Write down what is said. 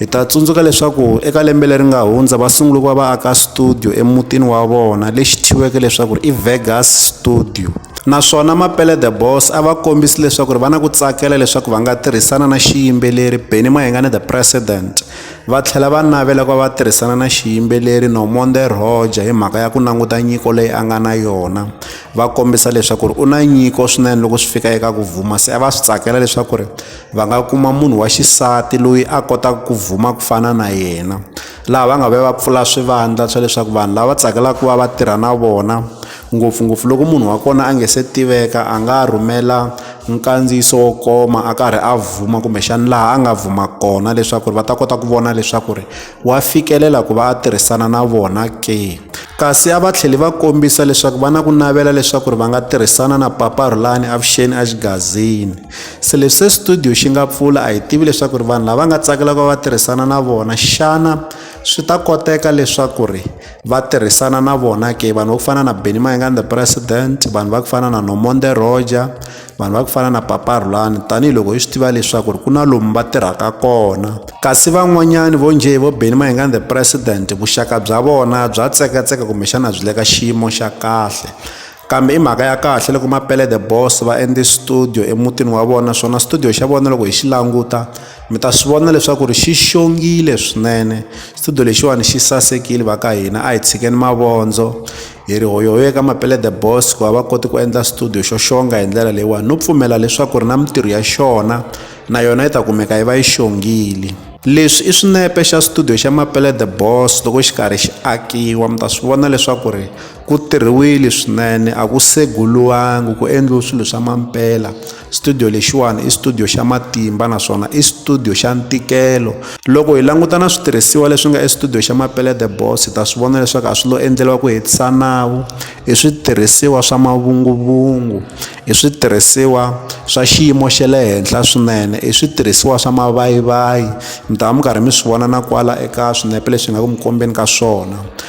Hi ta tsundzuka leswaku eka lembe leri nga hundza va sungule ku va va aka studio emutini wa vona lexi thyiweke leswaku i Vegas Studio naswona Mapele the Boss a va kombisi leswaku ri va na ku tsakela leswaku va nga tirhisana na xiyimbeleri Benny Mahengane the President va tlhela va navela ku va va tirhisana na xiyimbeleri Nomonde Roger hi mhaka ya ku languta nyiko leyi a nga na yona va kombisa leswaku ri u na nyiko swinene loko swi fika eka ku vuma se a va swi tsakela leswaku ri Va nga kuma munhu wa xisati loyi a kotaka ku vuma ku fana na yena laha va nga va va pfula swivandla swa leswaku vanhu lava tsakelaka ku va va tirha na vona ngopfungopfu loko munhu wa kona a nge se tiveka a nga rhumela nkandziyiso wo koma a karhi a vuma kumbexana laha a nga vuma kona leswaku ri va ta kota ku vona leswaku ri wa fikelela ku va a tirhisana na vona ke kasi a va tlheli va kombisa leswaku va na ku navela leswaku ri va nga tirhisana na papa Rhulani avuxeni a xigazini se leswi se studio xi nga pfula a hi tivi leswaku ri vanhu lava nga tsakelaka va tirhisana na vona xana swi ta koteka leswaku ri va tirhisana na vona ke vanhu va ku fana na benny mayengan the president vanhu va ku fana na nomonde roger vanhu va ku fana na papa rhulani tanihiloko hi swi tiva leswaku ri ku na lomu va tirhaka kona kasi van'wanyani vo njhe vo benny mayengan the president vuxaka bya vona bya tsekatseka kumbexana byi le ka xiyimo xa kahle kambe i mhaka ya kahle loko mapele the boss va endle studio emutini wa vona swona studio xa vona loko hi xi languta mi ta swi vona leswaku ri xi xongile swinene studio lexiwani xi sasekile va ka hina a hi tshikeni mavondzo hi ri hoyohoyo ka mapele the boss ku va va koti ku endla studio xo xonga hi ndlela leyiwani no pfumela leswaku ri na mintirho ya xona na yona yi ta kumeka yi va yi xongile leswi i swinepe xa studio xa mapele the boss loko xi karhi xi akiwa mi ta swi vona leswaku ri Ku tirhiwile swinene a ku seguriwangi ku endliwe swilo swa mampela studio lexiwani i studio xa matimba naswona i studio xa ntikelo loko hi languta na switirhisiwa leswi nga estudio xa mapele the boss hi ta swi vona leswaku a swi lo endleriwa ku hetisa nawu i switirhisiwa swa mavunguvungu i switirhisiwa swa xiyimo xa le henhla swinene i switirhisiwa swa mavayivayi mi ta va mi karhi mi swi vona na kwala eka swinepe leswi nga ku mi kombeni ka swona